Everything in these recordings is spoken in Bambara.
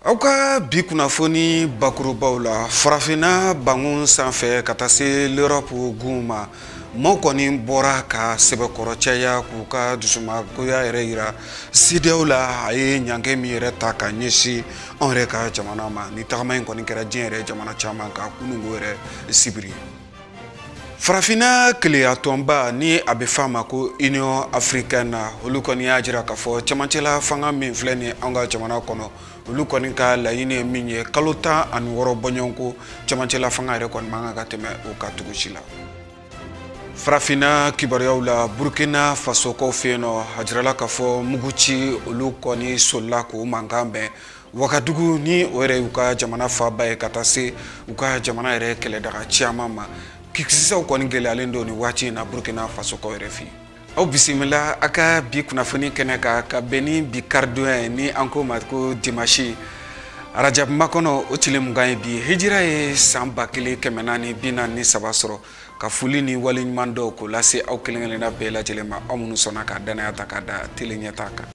aw ka bi kunnafoni bakurubaw la farafinna bangun sanfɛ ka taa se l'europe gunw ma maaw kɔni bɔra ka sɛbɛkɔrɔ caya k'u ka dusumagoya yɛrɛ yira cedeao la a ye ɲange min yɛrɛ ta ka ɲɛsin anw yɛrɛ ka jamana ma ni tagama in kɔni kɛra diɲɛ yɛrɛ jamana caman kan kunungo yɛrɛ sibiri farafinna keleya tɔnba ni a bɛ f'a ma ko union africaine na olu kɔni y'a jira k'a fɔ cɛmancɛla fanga min filɛ nin an ka jamana kɔnɔ olu kɔni ka laɲini ye min ye kalo tan ani wɔɔrɔ bɔɲɔgɔnko cɛmancɛla fanga yɛrɛ kɔni man kan ka tɛmɛ o kan cogo si la farafinna kibaruyaw la burkina fasokaw fɛ yen nɔ a jirala k'a fɔ muguci olu kɔni solila k'o mankan mɛn wagadugu ni o yɛrɛ y'u ka jamana faaba ye ka taa se u ka jamana yɛrɛ kɛlɛdaga caman ma kikisisaw kɔni gɛlɛyalen don ni waati in na burkina fasokaw yɛrɛ fɛ aw bisimila an ka bi kunnafoni kɛnɛ kan ka bɛn ni bi karidonya ye ni an k'o ma ko dimasi arajaba makɔnɔ o tile mugan ye bi hijira ye san ba kelen kɛmɛ naani bi naani ni saba sɔrɔ ka foli ni waleɲumandɔn k'o lase aw kelen kelenna bɛɛ lajɛlen ma aw minnu sɔnna ka dannaya ta ka da tele ɲɛta kan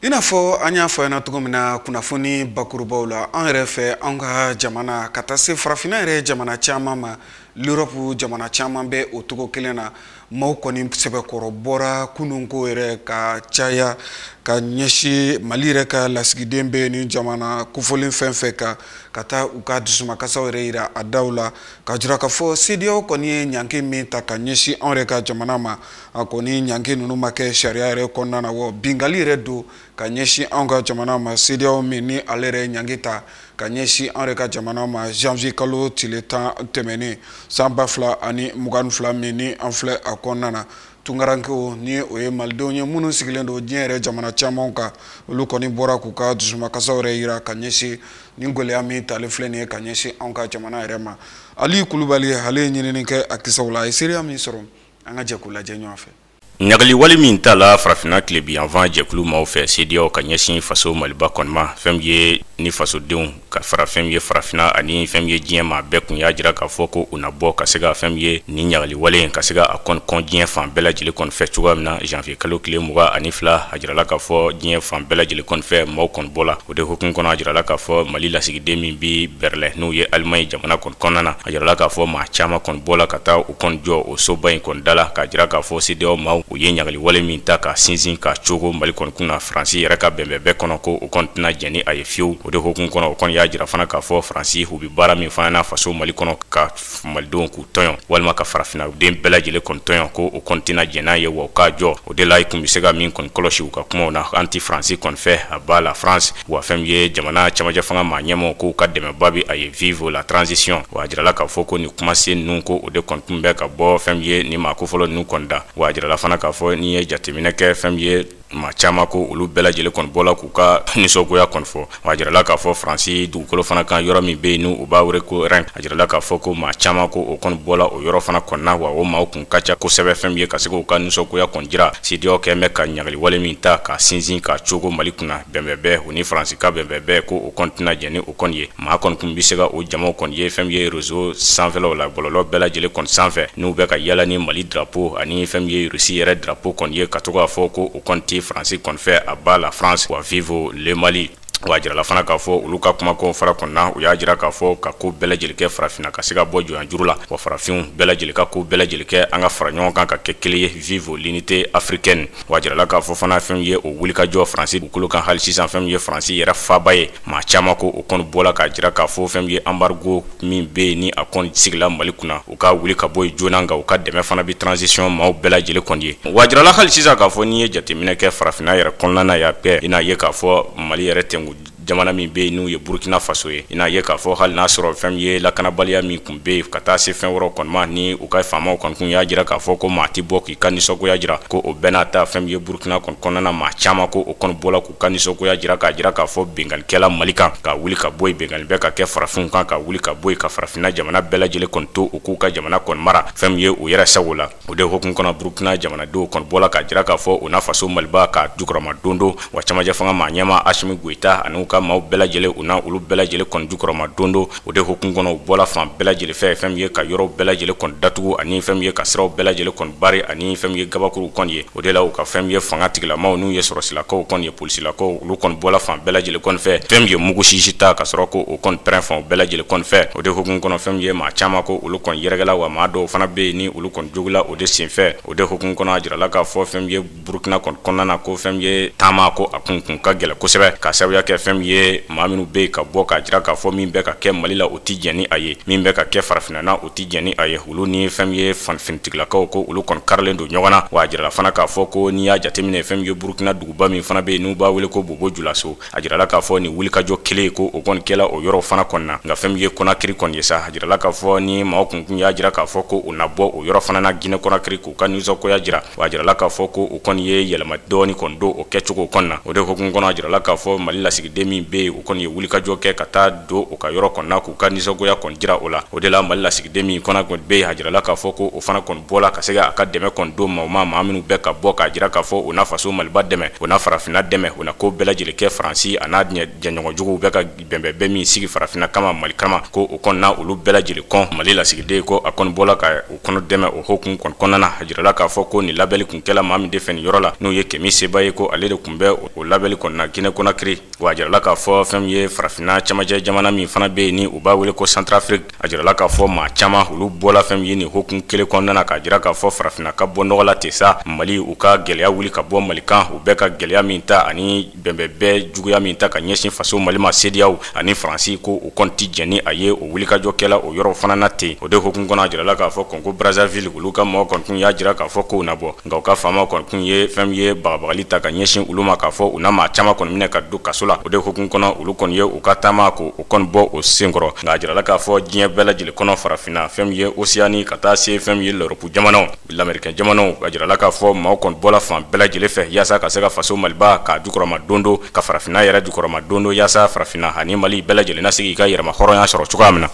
i n'a fɔ an y'a fɔ ɲɛna cogo min na kunnafoni bakurubaw la an yɛrɛ fɛ an ka jamana ka taa se farafinna yɛrɛ jamana caman ma l'europe jamana caman bɛ o cogo kelen na maaw kɔni sɛbɛkɔrɔ bɔra kunungo yɛrɛ ka caya ka ɲɛsi mali yɛrɛ ka lasigiden bɛ ni jamana kofɔlen fɛn fɛn kan ka taa u ka dusumakasaw yɛrɛ yira a daw la k'a jira k'a fɔ cedeao kɔni ye ɲange min ta ka ɲɛsin anw yɛrɛ ka jamana ma a kɔni ɲange ninnu ma kɛ sariya yɛrɛ kɔnɔna na wa bingali yɛrɛ don ka ɲɛsin anw ka jamana ma cedeao min ni ale yɛrɛ ɲangi ta ka ɲɛsin anw yɛrɛ ka jamana ma janvier kalo tile tan tɛmɛnen san ba fila ani mugan ni fila min ni an filɛ a kɔnɔna na tunkarankew ni o ye malidenw ye minnu sigilen don diɲɛ yɛrɛ jamana caman kan olu kɔni bɔra k'u ka dusumakasaw yɛrɛ yira ka ɲɛsin nin gɛlɛya min talen filɛ nin ye ka ɲɛsin anw ka jamana yɛrɛ ma ali kulubali ale ye ɲinini kɛ a kisɛw la a ye seereya min sɔrɔ an ka jɛ k'u lajɛ ɲɔgɔn fɛ ɲangili wale min tala farafinna tilebiyanfan jɛkulu maaw fɛ cedeao ka ɲɛsin faso maliba kɔni ma fɛn min ye ni fasodenw ka fara fɛn min ye farafinna ani fɛn min ye diɲɛ maa bɛɛ tun y'a jira k'a fɔ ko u na bɔ ka se ka fɛn min ye nin ɲangili wale in ka se ka a kɔni kɔn diɲɛ fan bɛɛ lajɛlen kɔni fɛ cogoya min na janvier kalo tile mugan ani fila a jirala k'a fɔ diɲɛ fan bɛɛ lajɛlen kɔni fɛ maaw kɔni bɔla O de hukumu kɔnɔ a jirala k'a fɔ mali lasigiden min bɛ berlin n'o ye allemagne jamana kɔni kɔnɔna na a jirala k'a fɔ maa caman kɔni bɔla ka taa u kɔni jɔ o soba in kɔni da la k'a jira k'a fɔ cedeao maaw u ye ɲangili wale min ta ka sinsin ka cogo mali kɔni kunna faransi yɛrɛ ka bɛnbɛn bɛɛ kɔnɔ ko u kɔni tɛna jɛn ni a ye fiyewu o de hukumu kɔnɔ o kɔni y'a jira fana k'a fɔ faransi u bɛ baara min fana na faso mali kɔnɔ ka malidenw k'u tɔɲɔ walima ka farafinna den bɛɛ lajɛlen kɔni tɔɲɔ ko o kɔni tɛna jɛn n'a ye wa u k'a jɔ o de la i tun bɛ se ka min kɔni kɔlɔsi u ka kumaw na an tɛ faransi kɔni fɛ à bas la france wa fɛn ye jamana cɛmancɛ fanga maa ɲɛmɔgɔw k'u ka dɛmɛba bɛ a ye vive la transition wa a jirala k'a fɔ ko nin kumasen ninnu ko o de kɔni tun bɛ ka bɔ fɛn ye nin maa kofɔlen ninnu kɔni da wa a jirala fana k'a fɔ n'i ye jateminɛ kɛ fɛn ye maa caman ko olu bɛɛ lajɛlen kɔni bɔla k'u ka nisɔngoya kɔni fɔ a jirala k'a fɔ faransi dugukolo fana kan yɔrɔ min bɛ yen n'u b'a wele ko rɛn a jirala k'a fɔ ko maa caman ko o kɔni bɔla o yɔrɔ fana kɔnɔna wa o maaw kun ka ca kosɛbɛ fɛn min ye ka se k'u ka nisɔngoya kɔni jira cedeao kun bɛ ka ɲangili wale min ta ka sinsin ka cogo mali kunna bɛnbɛnbɛn u ni faransi ka bɛnbɛnbɛn ko o kɔni tɛna jɛn ni o kɔni ye maa kɔni tun bɛ se ka o jamaw kɔni ye fɛn ye réseau sanfɛlaw la bɔlɔlɔ bɛɛ lajɛlen kɔni sanfɛ n'u bɛ ka yaala ni mali drapo ani fɛn ye rusi yɛrɛ drapo kɔni ye ka to k'a fɔ ko o kɔni tɛ faransi kɔni fɛ à bas la france wa vive le mali wa a jirala fana k'a fɔ olu ka kumakanw fana kɔnɔna u y'a jira k'a fɔ ka ko bɛɛ lajɛlen kɛ farafinna ka se ka bɔ jɔnya juru la wa farafinw bɛɛ lajɛlen ka ko bɛɛ lajɛlen kɛ an ka fara ɲɔgɔn kan ka kɛ kelen ye vive l'unité africaine wa a jirala k'a fɔ fana fɛn ye o wulikajɔ faransi dugukolo kan hali sisan fɛn ye faransi yɛrɛ faaba ye maa caman ko o kɔni bɔla k'a jira k'a fɔ fɛn ye anbarigo min bɛ yen ni a kɔni sigila mali kunna u ka wuli ka bɔ yen joona nka u ka dɛmɛ fana bɛ transisiyɔn maaw bɛɛ lajɛlen kɔni ye wa a jirala hali sisan k'a fɔ n'i ye jateminɛ kɛ farafinna yɛrɛ kɔnɔna na yan bɛɛ i n'a ye k'a fɔ mali yɛrɛ tɛnku jamana min bɛ yen n'u ye burukina faso ye i n'a ye k'a fɔ hali n'a sɔrɔ fɛn ye lakanabaliya min tun bɛ yen ka taa se fɛn wɛrɛw kɔni ma ni u ka faamaw kɔni kun y'a jira k'a fɔ ko maa tɛ bɔ k'i ka nisɔngoya jira ko o bɛɛ n'a ta fɛn ye burukina kɔni kɔnɔna na maa caman ko o kɔni bɔ u ka nisɔngoya jira k'a jira k'a fɔ binkanni kɛla mali kan ka wuli ka bɔ yen binkanni bɛ ka kɛ farafinw kan ka wuli ka bɔ yen ka farafinna jamana bɛɛ lajɛlen kɔni to u k'u ka jamana kɔni mara fɛn min ye u yɛrɛ sago la o de hokumu kɔnɔ burukina jamanadenw kɔni bɔla k'a jira k'a fɔ u na faso maliba ka jukɔrɔma don don wa cɛmancɛ fanga maa ɲɛmaa asimi goyita ani u ka maaw bɛɛ lajɛlen u na olu bɛɛ lajɛlen kɔni jukɔrɔma don don o de hokumu kɔnɔ u bɔla fan bɛɛ lajɛlen fɛ fɛn ye ka yɔrɔw bɛɛ lajɛlen kɔni datugu ani fɛn ye ka siraw bɛɛ lajɛlen kɔni bari ani fɛn ye kabakuruw kɔni ye o de la u ka fɛn ye fanga tigilamaw n'u ye sɔrɔsilakaw kɔni ye polisilakaw olu kɔni bɔla fan bɛɛ lajɛlen kɔni fɛ fɛn ye mugu sisi ta ka sɔrɔ k'o kɔni pɛrɛn fan bɛɛ lajɛlen kɔni fɛ o de hokumu kɔnɔ fɛn ye maa caman ko olu kɔni yɛrɛkɛla wa maa dɔw fana bɛ yen ni olu kɔni jogila o de senfɛ o de hokumu kɔnɔ a jirala k'a fɔ fɛn ye burukina kɔni kɔnɔna na ko fɛn ye taama ko a kɔni kun ka gɛlɛn kosɛbɛ k'a sababuya kɛ fɛn ye maa minnu bɛ ka bɔ k'a jira k'a fɔ min bɛ ka kɛ mali la u tɛ jɛn ni a ye min bɛ ka kɛ farafinna na u tɛ jɛn ni a ye olu ni fɛn ye fani finitigilakaw ko olu kɔni karilen don ɲɔgɔn na wa a jirala fana k'a fɔ ko n'i y'a jateminɛ fɛn ye burukina duguba min fana bɛ yen n'u b'a wele ko bobo julaso a jirala k'a fɔ nin wulikajɔ kelen ko o kɔni kɛla o yɔrɔ fana kɔnɔna na nka fɛn min ye kɔnakiri kɔni ye sa a jirala k'a fɔ ni mɔgɔw kɔni kun y'a jira k'a fɔ ko u na bɔ o yɔrɔ fana na ginɛ kɔnakiri k'u ka nisɔngoya jira wa a jirala k'a fɔ ko u kɔni ye yɛlɛma dɔɔni kɔni don o kɛcogo kɔnɔna na o de hukumu kɔnɔ a jirala k'a fɔ mali lasigiden min bɛ yen o kɔni ye wulikajɔ kɛ ka taa don o ka yɔrɔ kɔnɔna u ka nisɔngoya kɔni jira o la o de la mali lasigiden min kɔni bɛ yen a jirala k'a fɔ ko o fana kɔni bɔla ka se a ka dɛmɛ kɔni don maaw ma maa minnu bɛ ka bɔ k'a jira k'a fɔ u na faso maliba dɛmɛ u na farafinna dɛmɛ u na ko bɛɛ lajɛlen kɛ faransi a n'a jɛɲɔgɔnjuguw bɛ ka bɛnbɛn bɛɛ min sigi farafinna kama mali kama ko o kɔni na olu bɛɛ lajɛlen kɔn mali lasigiden ko a kɔni bɔla ka u kɔnɔ dɛmɛ o hukumu kɔni kɔnɔna na a jirala k'a fɔ ko nin labɛnli kun kɛla maa min de fɛ nin yɔrɔ la n'o ye kemi seba ye ko ale de kun bɛ o labɛnli kɔni na gine konakiri Wa a jirala k'a fɔ fɛn ye farafinna camancɛ jamana min fana bɛ yen ni u b'a wele ko santirafiriki a jirala k'a fɔ maa caman olu bɔla fɛn ye nin hukumu kelen kɔnɔna na k'a jira k'a fɔ farafinna ka bɔ nɔgɔ la ten sa mali u ka gɛlɛya wuli ka bɔ mali kan u bɛ ka gɛlɛya min ta ani bɛnbɛn bɛɛ juguyaya min ta ka ɲɛsin faso mali ma sedeyawo ani faransi ko u kɔni ti jɛn ni a ye o wulikajɔ kɛla o yɔrɔ fana na ten o de hukumu kɔnɔ a jirala k'a fɔ kongo brazavili olu ka mɔgɔw kɔni kun y'a jira k'a fɔ ko u na bɔ Nka u ka faamaw kɔni kun ye fɛn ye bagabagali ta ka ɲɛsin olu ma k'a fɔ u na maa caman kɔni minɛ ka don kaso la o de hukumu kɔnɔ olu kɔni ye u ka taama ko u kɔni bɔ o senkɔrɔ nka a jirala k'a fɔ diɲɛ bɛɛ lajɛlen kɔnɔ farafinna fɛn ye oseyani ka taa se fɛn ye lerɔpu jamanaw lamerikɛn jamanaw a jirala k'a fɔ maaw kɔni bɔla fan bɛɛ lajɛlen fɛ yaasa ka se ka faso maliba k'a jukɔrɔma don don ka farafinna yɛrɛ jukɔrɔma don don yaasa farafinna ani mali bɛɛ lajɛlen na se k'i ka yɛrɛmahɔrɔnya sɔrɔ cogoya min na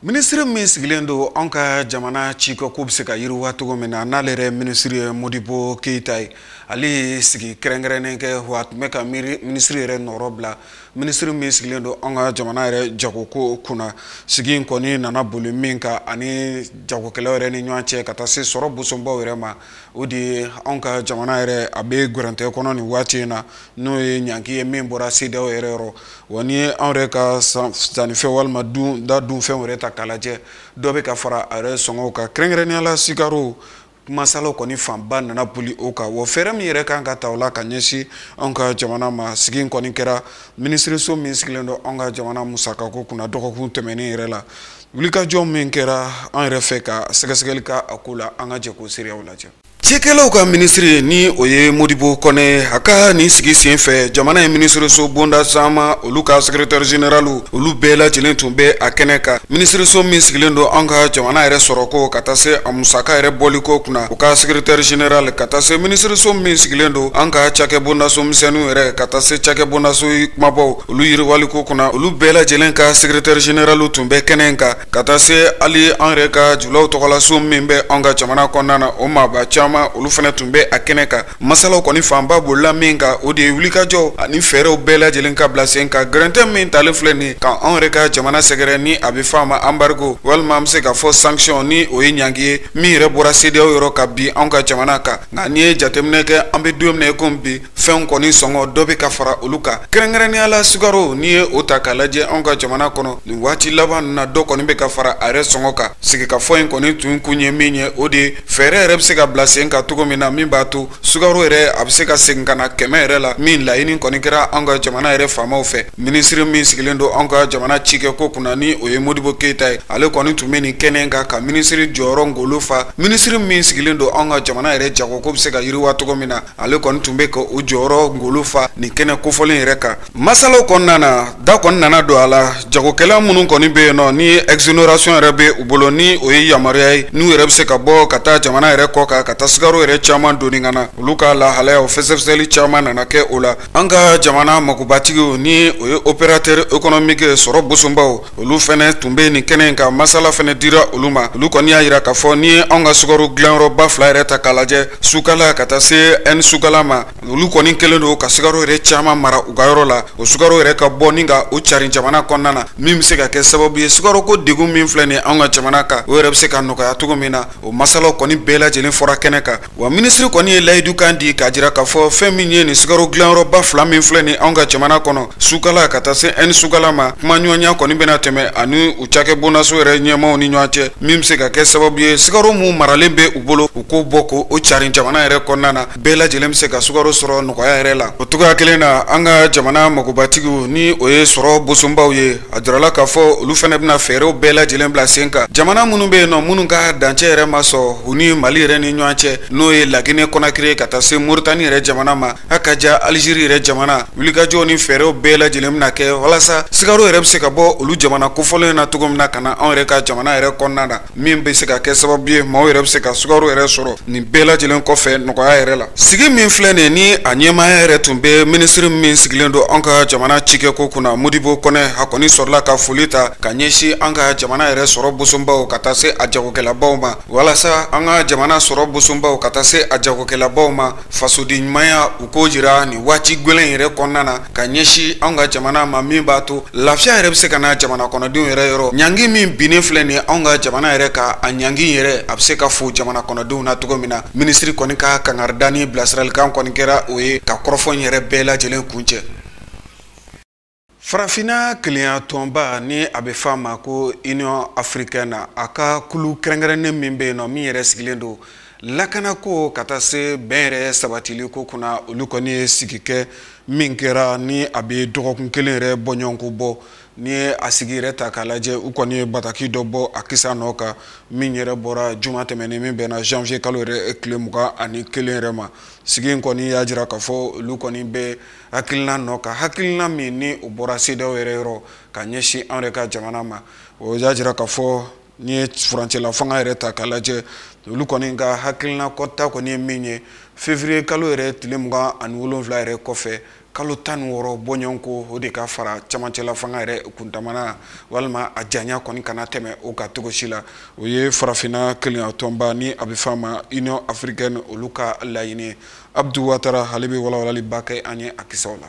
minisiri min sigilen don anw ka jamana cikɛko bɛ se ka yiriwa cogo min na n'ale yɛrɛ minisiri ye modibo keyita ye ale ye sigi kɛrɛnkɛrɛnnen kɛ wa a tun bɛ ka minisiri yɛrɛ nɔrɔ bila minisiri min sigilen don anw ka jamana yɛrɛ jagoko kunna sigi in kɔni nana boli min kan ani jagokɛlaw yɛrɛ ni ɲɔgɔn cɛ ka taa se sɔrɔ bosonbaw yɛrɛ ma o de ye anw ka jamana yɛrɛ a bɛ gɛrɛntɛ kɔnɔ nin waati in na n'o ye ɲangi ye min bɔra sedeyawo yɛrɛ yɔrɔ Wa n'i ye anw yɛrɛ ka sannifɛn walima da dunfɛn wɛrɛ ta k'a lajɛ dɔ bɛ ka fara a yɛrɛ sɔngɔw kan kɛrɛnkɛrɛnnenya la sukaro masalaw kɔni fanba nana boli o kan wa fɛɛrɛ min yɛrɛ kan ka ta o la ka ɲɛsin anw ka jamana ma sigi in kɔni kɛra minisiriso min sigilen don anw ka jamana musakako kunna dɔgɔkun tɛmɛnen yɛrɛ la wulikajɔ min kɛra an yɛrɛ fɛ ka sɛgɛsɛgɛli kɛ a ko la an ka jɛ k'o seereya lajɛ cikɛlaw ka minisiri ni o ye modibo kɔnɛ ye a ka nin sigi sen fɛ jamana ye minisiriso bonda caman olu ka sekretɛri zeneraliw olu bɛɛ lajɛlen tun bɛ a kɛnɛ kan minisiriso min sigilen don an ka jamana yɛrɛ sɔrɔko ka taa se a musaka yɛrɛ bɔliko kunna u ka sekretɛri zenerali ka taa se minisiriso min sigilen don an ka cakɛ bondaso misɛnninw yɛrɛ ka taa se cakɛ bondaso kumabaw olu yiriwaliko kunna olu bɛɛ lajɛlen ka sekretɛri zeneraliw tun bɛ kɛnɛ in kan ka taa se hali an yɛrɛ ka julaw tɔgɔlaso min bɛ an ka jamana kɔnɔna na o maaba caman olu fana tun bɛ a kɛnɛ kan masalaw kɔni fanba bolila min kan o de ye wulikajɔ ani fɛɛrɛw bɛɛ lajɛlen ka bila sen kan gɛrɛntɛ min talen filɛ nin ye ka an yɛrɛ ka jamana sɛgɛrɛ ni a bɛ fɔ a ma anbarigo walima an bɛ se k'a fɔ sankisiyɔn ni o ye ɲangi ye min yɛrɛ bɔra sedeyawo yɔrɔ ka bin an ka jamana kan nka n'i ye jateminɛ kɛ an bɛ don min na i ko bi fɛnw kɔni sɔngɔ dɔ bɛ ka fara olu kan kɛrɛnkɛrɛnnenya la sukaro n'i ye o ta k'a lajɛ anw ka jamana kɔnɔ nin waati laban ninnu na dɔ kɔni bɛ ka fara a yɛrɛ sɔngɔ kan sigikafɔ in kɔni tun kun ye min ye o de ye fɛɛrɛ yɛrɛ bɛ se ka bila sen kan cogo min na min b'a to sukaro yɛrɛ a bɛ se ka segin ka na kɛmɛ yɛrɛ la min laɲini kɔni kɛra anw ka jamana yɛrɛ faamaw fɛ minisiri min sigilen don anw ka jamana cikɛko kunna ni o ye modibo keyita ye ale kɔni tun bɛ nin kɛnɛ in kan ka minisiri jɔyɔrɔ ngolo fa minisiri min sigilen don anw ka jamana yɛrɛ jagoko bɛ se ka yiriwa cogo min na ale kɔni tun bɛ ka o jɔyɔrɔ ngolo fa nin kɛnɛ kofɔlen yɛrɛ kan masalaw kɔnɔna na da kɔni nana don a la jagokɛla minnu kɔni bɛ yen nɔ ni exonération yɛrɛ bɛ u bolo ni o ye yamaruya ye n'u yɛrɛ bɛ se ka bɔ ka taa jamana yɛrɛ kɔ kan ka taa sukaro yɛrɛ caman doni ka na olu ka lahalayaw fɛsɛfɛsɛli caman nana kɛ o la an ka jamana magobatigiw ni o ye opérateur économique sɔrɔ bosonbaw olu fɛnɛ tun be nin kɛnɛ in kan masala fɛnɛ dira olu ma olu kɔni y'a yira k'a fɔ n'i ye anw ka sukaro dilanyɔrɔba fila yɛrɛ ta k'a lajɛ sukala ka taa se ɛni sukala ma olu kɔni kɛlen don ka sukaro yɛrɛ caaman mara u ka yɔrɔ la o sukaro yɛrɛ ka bɔ ni ka o carin jamana kɔnɔna na min be se ka kɛ sababu ye sukaroko degun min filɛ nin anw ka jamana kan o yɛrɛ be se ka nɔgɔya cogo min na o masalaw kɔni bɛɛ lajɛlen fɔra kɛnɛ kan wa minisiri kɔni ye layidukan di k'a jira k'a fɔ fɛn min ye nin sukaro dilanyɔrɔba fila min filɛ nin anw ka jamana kɔnɔ sukala ka taa se ɛni sukala ma kuma ɲɔgɔnya kɔni bɛna tɛmɛ ani u cakɛ bondaso yɛrɛ ɲɛmaaw ni ɲɔgɔn cɛ min bɛ se ka kɛ sababu ye sukaro minnu maralen bɛ u bolo u k'o bɔ k'o carin jamana yɛrɛ kɔnɔna na bɛɛ lajɛlen bɛ se ka sukaro sɔrɔ nɔgɔya yɛrɛ la o cogoya kelen na an ka jamana magobatigiw ni o ye sɔrɔ bosonbaw ye a jirala k'a fɔ olu fɛnɛ bɛna fɛɛrɛw bɛɛ lajɛlen bila sen kan jamana minnu bɛ yen nɔ minnu ka dancɛ yɛrɛ ma sɔgɔ u ni mali yɛrɛ ni ɲɔgɔn cɛ n'o ye laginɛ kɔnakiri ka taa se moritani yɛrɛ jamana ma a ka ja aliziri yɛrɛ jamana wulikajɔw ni fɛɛrɛw bɛɛ lajɛlen bɛna kɛ walasa sukaro yɛrɛ bɛ se ka bɔ olu jamana kofɔlen na cogo min na ka na anw yɛrɛ ka jamana yɛrɛ kɔnɔna na min bɛ se ka kɛ sababu ye maaw yɛrɛ bɛ se ka sukaro yɛrɛ sɔrɔ nin bɛɛ lajɛlen kɔfɛ nɔgɔya yɛrɛ la sigi min filɛ nin ni a ɲɛmaaya yɛrɛ tun bɛ minisiri min sigilen don an ka jamana cikɛko kunna modibo kɔnɛ a kɔni sɔrɔla ka foli ta ka ɲɛsin an ka jamana yɛrɛ sɔrɔ bosonbaw ka taa se a jagokɛlabaw ma walasa an ka jamana sɔrɔ bosonbaw ka taa se a jagokɛlabaw ma fasodenɲumanya u k'o jira nin waati gwɛlɛn yɛrɛ kɔnɔna na ka ɲɛsin anw ka jamana ma min b'a to lafiya yɛrɛ bɛ se ka na jamana kɔnɔdenw yɛrɛ yɔrɔ ɲangi min binnen filɛ nin anw ka jamana yɛrɛ kan a ɲangi yɛrɛ a bɛ se ka fo jamana kɔnɔdenw na cogo min na minisiri kɔni ka kangarida ni bilasiralikan kɔni kɛra o ye ka kɔrɔfɔ in yɛrɛ bɛɛ lajɛlen kuncɛ Farafinna kelenya tɔnba ni a bɛ f'a ma ko Union africaine na a ka kulu kɛrɛnkɛrɛnnen min bɛ yen nɔ min yɛrɛ sigilen don lakanako ka taa se bɛn yɛrɛ sabatili ko kunna olu kɔni ye sigi kɛ min kɛra ni a bɛ dɔgɔkun kelen yɛrɛ bɔɲɔgɔnko bɔ n'i ye a sigi yɛrɛ ta k'a lajɛ u kɔni ye bataki dɔ bɔ a kisa nɔ kan min yɛrɛ bɔra juma tɛmɛnen min bɛnna janvier kalo yɛrɛ tile mugan ani kelen yɛrɛ ma sigi in kɔni y'a jira k'a fɔ olu kɔni bɛ hakilina nɔ kan hakilina min ni o bɔra cedeao yɛrɛ yɔrɔ ka ɲɛsin an yɛrɛ ka jamana ma o y'a jira k'a fɔ n'i ye furancɛla fanga yɛrɛ ta k'a lajɛ olu kɔni ka hakilina kɔta kɔni ye min ye février kalo yɛrɛ tile mugan ani wolonwula yɛrɛ kɔfɛ kalo tan ni wɔɔrɔ bɔɲɔgɔnko o de ka fara camancɛla fanga yɛrɛ kuntamana walima a janya kɔni kana tɛmɛ o kan cogo si la o ye farafinna kelenya tɔnba ni a bɛ f'a ma union africaine olu ka laɲini abdu watara ale bɛ walawalaliba kɛ an ye a kisaw la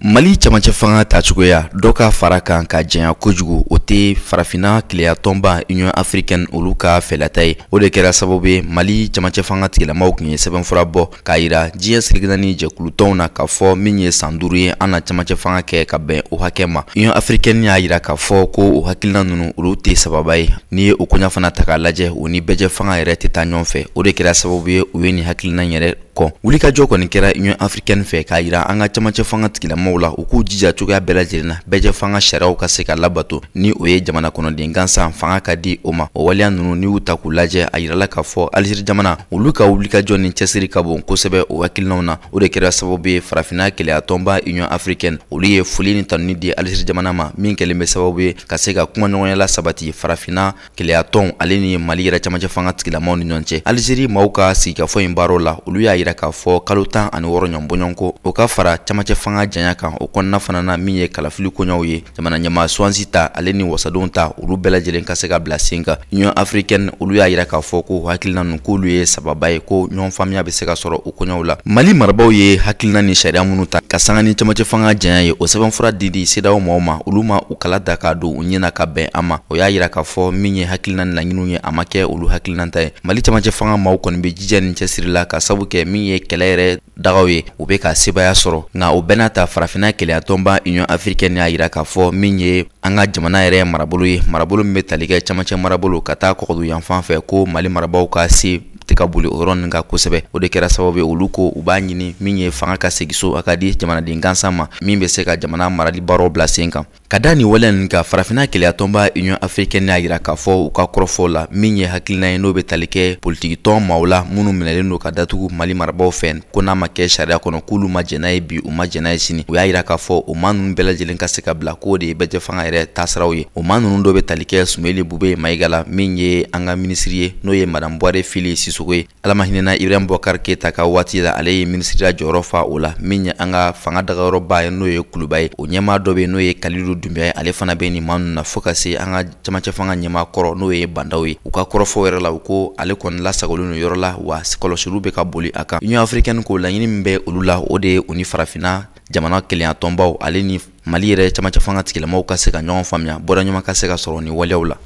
mali camancɛ fanga tacogoya dɔ ka fara kan ka janya kojugu o tɛ farafinna kelenya tɔnba union africaine olu ka fɛlata ye o de kɛra sababu ye mali camancɛ fanga tigilamaw tun ye sɛbɛnfura bɔ k'a yira diɲɛ seleke naani jɛkulutɔnw na k'a fɔ min ye san duuru ye an na camancɛ fanga kɛ ka bɛn o hakɛ ma union africaine y'a yira k'a fɔ ko o hakilina ninnu olu tɛ sababa ye n'i ye o koɲa fana ta k'a lajɛ o ni bɛɛjɛ fanga yɛrɛ tɛ taa ɲɔgɔn fɛ o de kɛra sababu ye u ye nin hakilina yɛrɛ kɔn wulikajɔ kɔni kɛra union africaine fɛ k'a yira an ka camancɛ fanga tigilamaw la u k'u jija cogoya bɛɛ lajɛlen na bɛɛjɛ fanga sariyaw ka se ka labato ni o ye jamana kɔnɔden gansan fanga ka di o ma o waleya ninnu n'i y'u ta k'u lajɛ a yirala k'a fɔ alizeri jamana olu ka wulikajɔ ni cɛsiri ka bon kosɛbɛ o hakilinaw na o de kɛra sababu ye farafinna kelenya tɔnba union africaine olu ye foli ni tanuni di alizeri jamana ma min kɛlen bɛ sababu ye ka se ka kumaɲɔgɔnya lasabati farafinna kelenya tɔnw ale ni mali yɛrɛ camancɛ fanga tigilamaw ni ɲɔgɔn cɛ alizeri maaw ka sigikafɔ in baaraw la olu y'a yira k'a fɔ kalo tan ani wɔɔrɔ ɲɔgɔn bɔɲɔgɔnko o ka fara camancɛ fanga janya kan o kɔnɔna fana na min ye kalafili koɲaw ye jamana ɲɛmaa sugandi ta ale ni wasadenw ta olu bɛɛ lajɛlen ka se ka bila sen kan union africaine olu y'a yira k'a fɔ ko hakilina ninnu k'olu ye sababa ye ko ɲɔgɔn faamuya bɛ se ka sɔrɔ o koɲaw la mali marabaaw ye hakilina ni sariya minnu ta ka sanga ni camancɛ fanga janya ye o sɛbɛnfura didi cedeao maaw ma olu ma u kala ta k'a don u ɲɛ na ka bɛn a ma o y'a yira k'a fɔ min ye hakilina ni laɲiniw ye a ma kɛ olu hakilina ta ye mali camancɛ fanga maaw kɔni bɛ jija ni cɛsiri la ka sabu kɛ min ye kɛlɛ yɛrɛ dagaw ye u bɛ ka sebaaya sɔrɔ nka o bɛɛ n'a ta farafinna kelenya tɔnba union africaine y'a yira k'a fɔ min ye an ka jamana yɛrɛ marabolo ye marabolo min bɛ tali kɛ camancɛ marabolo ka taa kɔgɔdu yanfan fɛ ko mali marabaaw ka se tɛ ka boli o yɔrɔ ninnu kan kosɛbɛ o de kɛra sababu ye olu ko u b'a ɲini min ye fanga ka segin so a ka di jamanaden gansan ma min bɛ se ka jamana marali baaraw bila sen kan ka da nin waleya ninnu kan farafinna kelenya tɔnba union africaine y'a yira k'a fɔ u ka kɔrɔfɔw la min ye hakilina ye n'o bɛ tali kɛ politikitɔn maaw la minnu minɛlen don ka datugu mali marabaaw fɛ ko n'a ma kɛ sariya kɔnɔ k'olu ma jɛn n'a ye bi u ma jɛn n'a ye sini u y'a yira k'a fɔ o maa ninnu bɛɛ lajɛlen ka se ka bila k'o de ye bɛɛjɛfanga yɛrɛ taasiraw ye o maa ninnu dɔ bɛ tali kɛ sumeli bubeyi mayiga la min ye an ka minisiri ye n'o ye madam buware fili sisogo ye ala ma hinɛna ibrahim bubakari keyita ka waati la ale ye minisiriya jɔyɔrɔ fa o la min ye an ka fanga dagayɔrɔba ye n'o ye kuluba ye o ɲɛmaa dɔ bɛ yen n'o ye kalilu dunbiya ye ale fana bɛ nin maa ninnu na fɔɔ ka se an ka camancɛ fanga ɲɛmaa kɔrɔ n'o ye ba ndaw ye u ka kɔrɔfɔ yɛrɛ la u ko ale kɔni lasagolen don yɔrɔ la wa kɔlɔsiliw bɛ ka boli a kan union africaine ko laɲini min bɛ olu la o de ye u ni farafinna jamana kelenya tɔnbaw ale ni mali yɛrɛ camancɛ fanga tigilamaw ka se ka ɲɔgɔn faamuya bɔda ɲuman ka se ka sɔrɔ nin waleyaw la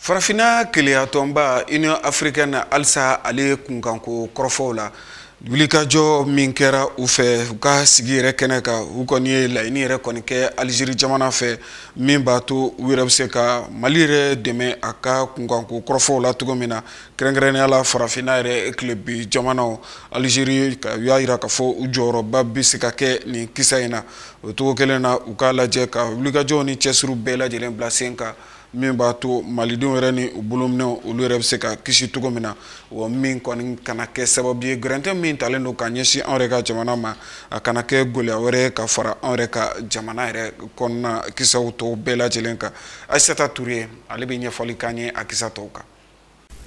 farafinna kelenyatɔnba union africaine halisa ale kunkanko kɔrɔfɔw la wulikajɔ min kɛra u fɛ u ka sigi yɛrɛ kɛnɛ kan u kɔni ye laɲini yɛrɛ kɔni kɛ alizeri jamana fɛ min b'a to u yɛrɛ bɛ se ka mali yɛrɛ dɛmɛ a ka kunkanko kɔrɔfɔw la cogo min na kɛrɛnkɛrɛnnenya la farafinna yɛrɛ tilebin jamanaw alizeri u y'a yira k'a fɔ u jɔyɔrɔba bɛ se ka kɛ nin kisa in na o cogo kelen na u k'a lajɛ ka wulikajɔw ni cɛsiriw bɛɛ lajɛlen bila sen kan min b'a to malidenw yɛrɛ ni u bolominɛnw olu yɛrɛ bɛ se ka kisi cogo min na wa min kɔni kana kɛ sababu ye gɛrɛntɛ min talen don ka ɲɛsin anw yɛrɛ ka jamana ma a kana kɛ gɛlɛya wɛrɛ ye ka fara anw yɛrɛ ka jamana yɛrɛ kɔnɔna kisaw tɔw bɛɛ lajɛlen kan ayisata ture ale bɛ ɲɛfɔli k'an ye a kisa tɔw kan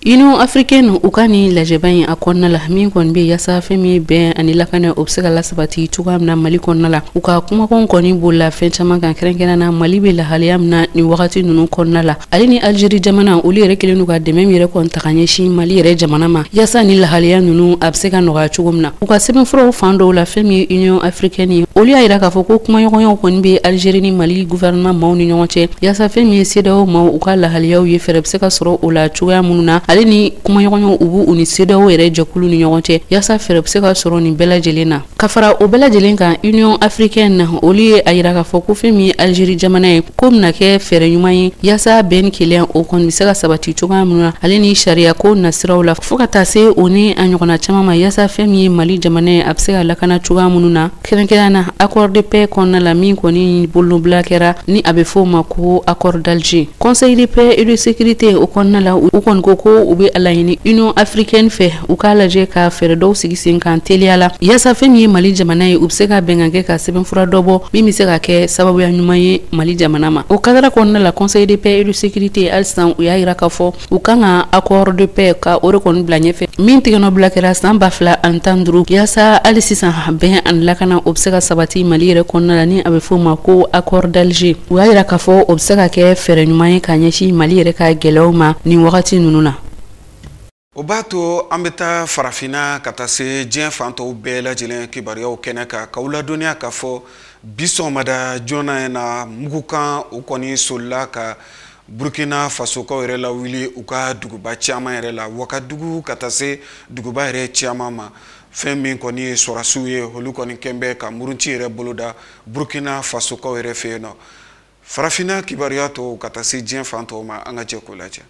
Union africaine u ka nin lajɛba in a kɔnɔna la min kɔni bɛ yaasa fɛn min ye bɛn ani lakana o bɛ se ka lasabati cogoya min na mali kɔnɔna la u ka kumakanw kɔni bolila fɛn caman kan kɛrɛnkɛrɛnnenya na mali bɛ lahaliya min na nin wagati ninnu kɔnɔna la ale ni algérie jamana olu yɛrɛ kɛlen don ka dɛmɛ min yɛrɛ kɔni ta ka ɲɛsin mali yɛrɛ jamana ma yaasa nin lahaliya ninnu a bɛ se ka nɔgɔya cogo min na u ka sɛbɛnfuraw fan dɔw la fɛn min ye union africaine ye olu y'a yira k'a fɔ ko kumaɲɔgɔnyaw kɔni bɛ algérie ni mali gouvernement maaw ni ɲɔgɔn cɛ yaasa fɛn min ye cedeao maaw u ka lahaliyaw ye fɛɛrɛ bɛ se ka sɔrɔ o la cogoya minnu na ale ni kumaɲɔgɔnyaw u b'u ni cedeao yɛrɛ jɛkulu ni ɲɔgɔn cɛ yaasa fɛɛrɛ bɛ se ka sɔrɔ nin bɛɛ lajɛlen na ka fara o bɛɛ lajɛlen kan union africaine olu ye a yira k'a fɔ ko fɛn min ye algérie jamana ye k'o bɛna kɛ fɛɛrɛ ɲuman ye yaasa bɛn ni kelenya o kɔni bɛ se ka sabati cogoya minnu na ale ni sariyako nasiraw la fɔɔ ka taa se o ni a ɲɔgɔnna caman ma yaasa fɛn min ye mali jamana ye a bɛ se ka lakana cogoya minnu na kɛrɛnkɛrɛnnenya na accord de paix kɔnɔna la min kɔni bolonɔbila kɛra ni a bɛ fɔ o ma ko accord d'alger conseil de paix et de sécurité o kɔnɔna la u kɔni ko ko u bɛ a laɲini union africaine fɛ u k'a lajɛ ka fɛɛrɛ dɔw sigi sen kan teliya la yaasa fɛn min ye mali jamana ye u bɛ se ka bɛnkan kɛ ka sɛbɛnfura dɔ bɔ min bɛ se ka kɛ sababuya ɲuman ye mali jamana ma o kadara kɔnɔna la conseil de paix et de sécurité hali sisan u y'a yira k'a fɔ u kan ka accord de paix ka o de kɔni bila ɲɛfɛ min tigɛnɔbila kɛra san ba fila ani tan duru yaasa hali sisan bɛn ani lakana o be se ka sabati mali yɛrɛ kɔnɔna la ni a be fɔ ma ko accord d'alger u y'a yira k'a fɔ o be se ka kɛ fɛɛrɛ ɲuman ye ka ɲɛsi mali yɛrɛ ka gɛlɛyaw ma nin wagati nunu na o b'a to an bɛ taa farafinna ka taa se diɲɛ fan tɔw bɛɛ lajɛlen kibaruyaw kɛnɛ kan k'aw ladɔnniya k'a fɔ bi sɔgɔmada joona in na mugukan o kɔni solila ka burkina fasokaw yɛrɛ lawuli u ka duguba caman yɛrɛ la wagadugu ka taa se duguba yɛrɛ caman ma fɛn min kɔni ye sɔrasiw ye olu kɔni kɛn bɛ ka murunci yɛrɛ boloda burkina fasokaw yɛrɛ fɛ yen nɔ farafinna kibaruya tɔw ka taa se diɲɛ fan tɔw ma an ka jɛ k'o lajɛ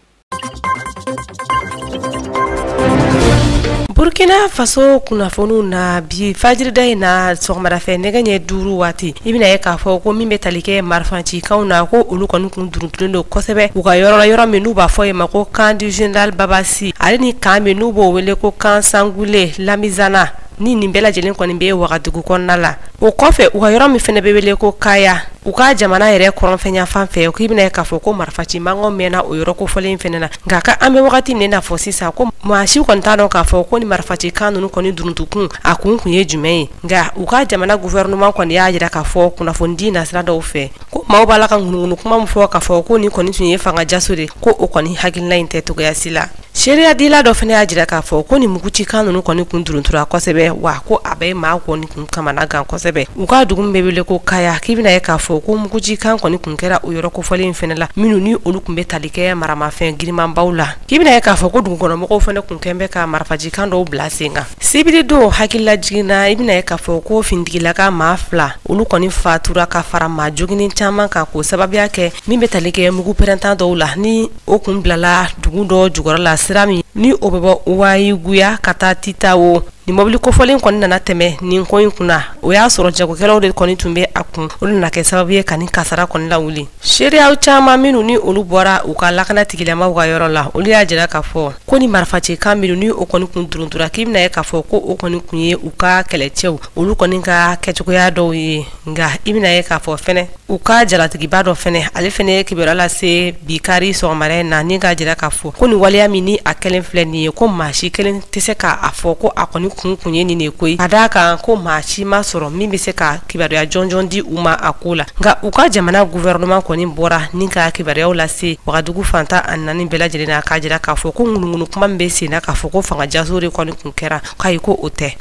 burkina faso kunnafoniw na bi fajirida in na sɔgɔmada fɛ nɛgɛ ɲɛ duuru waati i bɛna ye k'a fɔ ko min bɛ tali kɛ marifacikanw na ko olu kɔni kun duruntulen don kosɛbɛ u ka yɔrɔ la yɔrɔ min n'u b'a fɔ ye ma ko camp du general baba sy ale ni camp min n'u b'o wele ko camp sangule lamizana ni nin bɛɛ lajɛlen kɔni bɛ wagadugu kɔnɔna la o kɔfɛ u ka yɔrɔ min fɛnɛ bɛ wele ko kaya u ka jamana yɛrɛ kɔrɔnfɛ yanfan fɛ k'i bɛna ye k'a fɔ ko marifaci mankan mɛnna o yɔrɔ kofɔlen fɛnɛ na Nka ka an bɛ wagati min na fɔ sisan ko maa si kɔni t'a dɔn k'a fɔ ko ni marifacikan ninnu kɔni duruntukun a kun kun ye jumɛn ye nka u ka jamana gouvernement kɔni y'a jira k'a fɔ kunnafonidi nasira dɔw fɛ ko maaw b'a la ka ŋunuŋunu kuma min fɔ k'a fɔ ko ni kɔni tun ye fanga jaso de ko o kɔni hakilina in tɛ cogoya si la seereyadila dɔ fɛnɛ y'a jira k'a fɔ ko ni mugucikan ninnu kɔni kun duruntura kosɛbɛ wa ko a bɛ maa kɔni kun kamana gan kosɛbɛ u ka dugu bɛ wele ko kaya k'i bɛna ye k'a fɔ ko mugucikan kɔni kun kɛra o yɔrɔ kofɔlen in fɛnɛ la minnu ni olu kun bɛ tali kɛ maramafɛn girimanbaw la k'i bɛna ye k'a fɔ ko dugukɔnɔmɔgɔw fɛnɛ kun kɛn bɛ ka marifacikan dɔw bila sen kan sibiri don hakililajigin na i bɛna ye k'a fɔ ko finitigilaka maa fila olu kɔni fatura ka fara maa joginin caman kan k'o sababuya kɛ min bɛ tali kɛ mugu pɛrɛnta dɔw la ni o kun bilala dugu dɔ jukɔrɔ la sira min ni o bɛ bɔ wayiguya ka taa titawo nin mɔbili kofɔlen kɔni nana tɛmɛ nin ko in kunna o y'a sɔrɔ jagokɛlaw de kɔni tun bɛ a kun olu nana kɛ sababu ye ka nin kasara kɔni lawuli Seereyaw caman minnu ni olu bɔra u ka lakana tigilamaw ka yɔrɔ la olu y'a jira k'a fɔ ko ni marifacikan minnu ni o kɔni kun duruntura k'i bɛna ye k'a fɔ ko o kɔni kun ye u ka kɛlɛcɛw olu kɔni ka kɛcogoya dɔw ye nka i bɛna ye k'a fɔ fɛnɛ u ka jalatigiba dɔ fɛnɛ ale fɛnɛ ye kibaruya lase bi kari sɔgɔmada in na ni k'a jira k'a fɔ ko nin waleya min ni a kɛlen filɛ nin ye ko maa si kelen tɛ se k'a fɔ ko a kɔni kun kun ye nin de ye koyi ka d'a kan ko maa si ma sɔrɔ min bɛ se ka kibaruya jɔnjɔn di u ma a ko la nka u ka jamana gouvernement kɔni bɔra ni ka kibaruyaw lase wagadugu fan tan ani naani bɛɛ lajɛlen na k'a jira k'a fɔ ko ŋunuŋunu kuma min bɛ sen na k'a fɔ ko fanga jaso de kɔni kun kɛra k'ayi ko o tɛ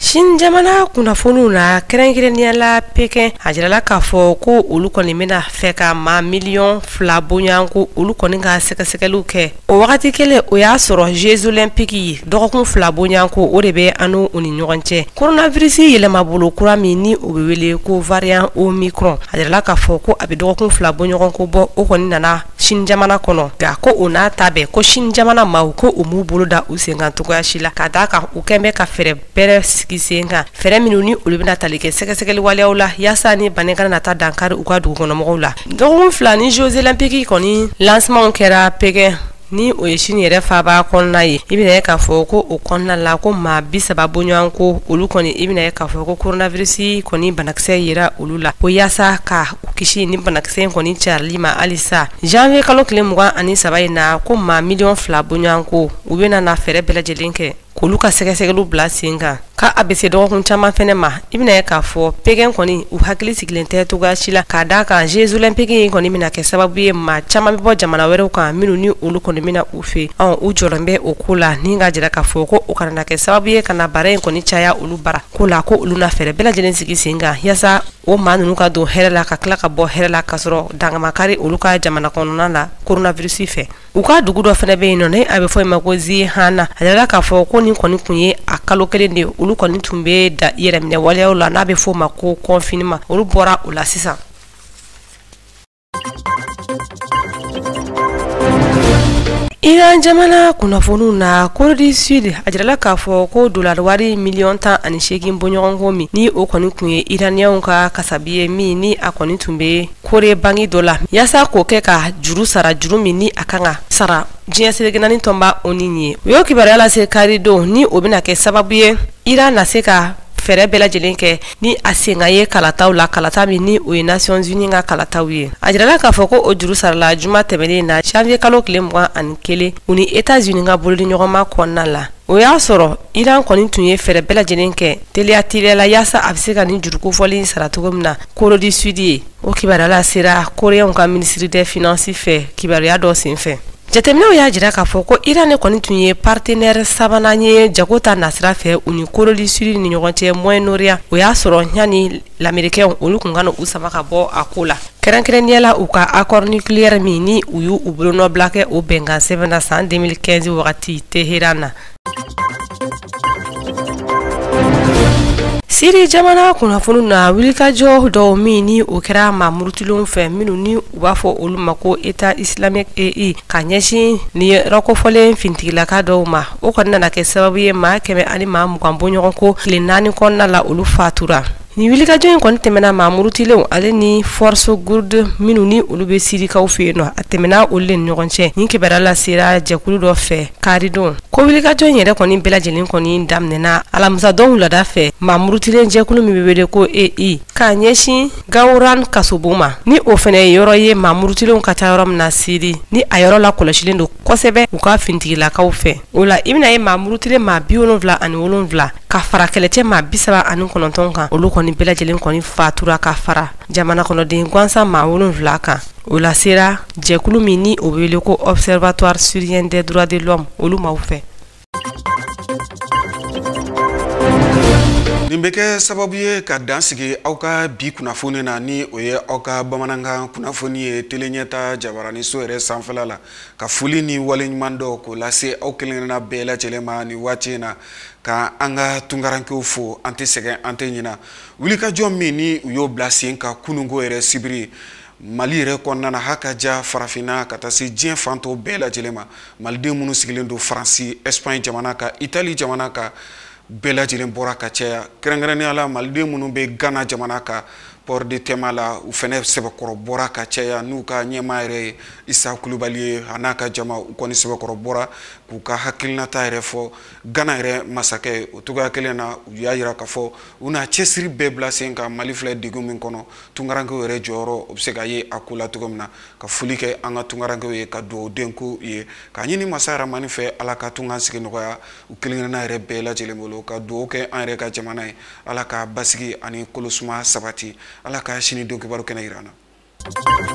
sini jamana kunnafoniw na kɛrɛnkɛrɛnnenya la pekin a jirala k'a fɔ ko olu kɔni bɛna fɛ ka maa miliyɔn fila bɔɲɔgɔn ko olu kɔni ka sɛgɛsɛgɛliw kɛ o wagati kelen o y'a sɔrɔ jeux olympiques dɔgɔkun fila bɔɲɔgɔn ko o de bɛ ani u ni ɲɔgɔn cɛ koronavirisi yɛlɛmabolo kura min ni u bɛ wele ko variant omicron a jirala k'a fɔ ko a bɛ dɔgɔkun fila bɔɲɔgɔn ko bɔ o kɔni nana sini jamana kɔnɔ nka ko o n'a ta bɛɛ ko sini jamana maaw ko u m'u bolo da u sen kan cogoya si la ka d'a kan u kɛlen bɛ ka fɛɛrɛ bɛrɛ sigi sen kan fɛɛrɛ minnu ni olu bɛna tali kɛ sɛgɛsɛgɛli waleyaw la yaasa ni bana kana na taa dankari u ka dugukɔnɔmɔgɔw la dɔgɔkun fila ni jeux olympiques kɔni lancement kɛra pekin ni o ye sini yɛrɛ faaba kɔnɔna ye i bɛna ye k'a fɔ ko o kɔnɔna la ko maa bi saba bɔɲɔgɔn ko olu kɔni i bɛna ye k'a fɔ ko koronavirisi kɔni banakisɛ yera olu la ko yaasa ka u kisi ni banakisɛ in kɔni carili ma halisa janvier kalo tile mugan ani saba in na ko maa miliyɔn fila bɔɲɔgɔn ko u bɛna na fɛɛrɛ bɛɛ lajɛlen kɛ k'olu ka sɛgɛsɛgɛliw bila sen kan ka a bɛ se dɔgɔkun caman fɛnɛ ma i bɛna ye k'a fɔ pekin kɔni u hakili sigilen tɛ cogoya si la k'a d'a kan jeux olympiques in kɔni bɛna kɛ sababu ye maa caman bɛ bɔ jamana wɛrɛw kan minnu ni olu kɔni bɛ na u fɛ ɔn u jɔrɔlen bɛ o ko la ni ka jira k'a fɔ ko o kana kɛ sababu ye ka na baara in kɔni caya olu bara ko la ko olu na fɛɛrɛ bɛɛ lajɛlen sigi sen kan yaasa o maa ninnu ka don hɛrɛ la ka tila ka bɔ hɛrɛ la kasɔrɔ danga ma kari olu ka jamana kɔnɔna la coronavirus fɛ u ka dugu dɔ fana bɛ yen nɔ ni a bɛ fɔ ma ko xi'an a jirala k'a fɔ ko nin kɔni tun ye a kalo kelen de olu kɔni tun bɛ da yɛrɛminɛ waleyaw la n'a bɛ f'o ma ko confinement olu bɔra o la sisan iran jamana kunnafoniw na corée du sud a jirala k'a fɔ ko dolari wari miliyɔn tan ani seegin bɔɲɔgɔn ko min ni o kɔni tun ye iraniyanw ka kasabi ye min ni a kɔni tun bɛ corée banki dɔ la yaasa k'o kɛ ka juru sara juru min ni a kan ka sara diɲɛ seleke naani tɔnba onu ye u y'o kibaruya lase kari don ni o bɛna kɛ sababu ye iran na se ka fɛɛrɛ bɛɛ lajɛlen kɛ ni a sen ka ye kalataw la kalata min ni o ye nations unies ka kalataw ye a jirala k'a fɔ ko o juru sarala juma tɛmɛnen na janvier kalo tile mugan ani kelen u ni etats unis ka bolodiɲɔgɔnma kɔnɔna la o y'a sɔrɔ iran kɔni tun ye fɛɛrɛ bɛɛ lajɛlen kɛ teliya teliya la yaasa a bɛ se ka nin juru kofɔlen in sara cogo min na corée du sud ye o kibaruya lasera koreyanw ka ministre des finances fɛ kibaruya dɔ sen fɛ jateminɛw y'a jira k'a fɔ ko iran ne kɔni tun ye partenaire sabanan ye jago ta nasira fɛ u ni corée du sud ni ɲɔgɔn cɛ moyen-orient o y'a sɔrɔ yani lamerikɛnw olu kun ka na u sama ka bɔ a ko la kɛrɛnkɛrɛnnenya la u ka accord nucléaire min ni u y'u bolonɔbila kɛ o bɛnkan sɛbɛn na san 2015 wagati teheran na siri jamana kunnafoniw na wulikajɔ dɔw min ni o kɛra maa murutilenw fɛ minnu ni u b'a fɔ olu ma ko état islamique ei ka ɲɛsin ni yɔrɔ kofɔlen fintigilaka dɔw ma o kɔni nana kɛ sababu ye maa kɛmɛ ani maa mugan bɔɲɔgɔn ko tile naani kɔnɔna la olu fatura nin wulikajɔ in kɔni tɛmɛna maa murutilenw ale ni forces kurdes minnu ni olu bɛ sirikaw fɛ yen nɔ a tɛmɛna olu de ni ɲɔgɔn cɛ nin kibaruya lasera jɛkulu dɔ fɛ karidon ko wulikajɔ in yɛrɛ kɔni bɛɛ lajɛlen kɔni daminɛna alamisadon wulada fɛ maa murutilen jɛkulu min bɛ wele ko ei ka ɲɛsin Ghwayran kasobon ma ni o fɛnɛ ye yɔrɔ ye maa murutilenw ka ca yɔrɔ min na siri ni a yɔrɔ la kɔlɔsilen don kosɛbɛ u ka fintigilakaw fɛ o la i bɛna ye maa murutilen maa bi wolonwula ani wolonwula ka fara kɛlɛcɛ maa bisaba ani kɔnɔntɔn kan olu kɔni bɛɛ lajɛlen kɔni fatura ka fara jamana kɔnɔden gansan maa wolonwula kan o lasera jɛkulu min ni o bɛ wele ko observatoire syrien des droits de l'homme olu maaw fɛ nin bɛ kɛ sababu ye ka dan sigi aw ka bi kunnafoni na ni o ye aw ka bamanankan kunnafoni ye teleɲɛta jabaraniso yɛrɛ sanfɛla la ka foli ni waleɲumandɔn k'o lase aw kelenkelenna bɛɛ lajɛlen ma nin waati in na ka an ka tunkarankew fo an tɛ sɛgɛn an tɛ ɲina wulikajɔ min ni u y'o bila sen ka kununko yɛrɛ sibiri mali yɛrɛ kɔnɔna na ha ka ja farafinna ka taa se diɲɛ fan tɔw bɛɛ lajɛlen ma maliden minnu sigilen don faransi espagne jamana kan itali jamana kan bɛɛ lajɛlen bɔra ka caya kɛrɛnkɛrɛnnenya la maliden minnu bɛ ghana jamana kan port de tema la u fɛnɛ sɛbɛkɔrɔ bɔra ka caya n'u ka ɲɛmaa yɛrɛ ye isa kulubali ye a n'a ka jama u kɔni sɛbɛkɔrɔ bɔra k'u ka hakilinata yɛrɛ fɔ ghana yɛrɛ masakɛ o togoya kelen na u y'a yira k'a fɔ u na cɛsiri bɛɛ bila sen ka mali filɛ degun min kɔnɔ tunkarankew yɛrɛ jɔyɔrɔ o bɛ se ka ye a ko la cogo min na ka foli kɛ an ka tunkarankew ye ka dugawu denko ye k'a ɲini masa rahamani fɛ ala ka tunkan sigi nɔgɔya u kelenkelenna yɛrɛ bɛɛ lajɛlen bolo ka dugawu kɛ an yɛrɛ ka jamana ye ala ka basigi ani kolosuma sabati ala ka sini don kibaru kɛnɛ yira an na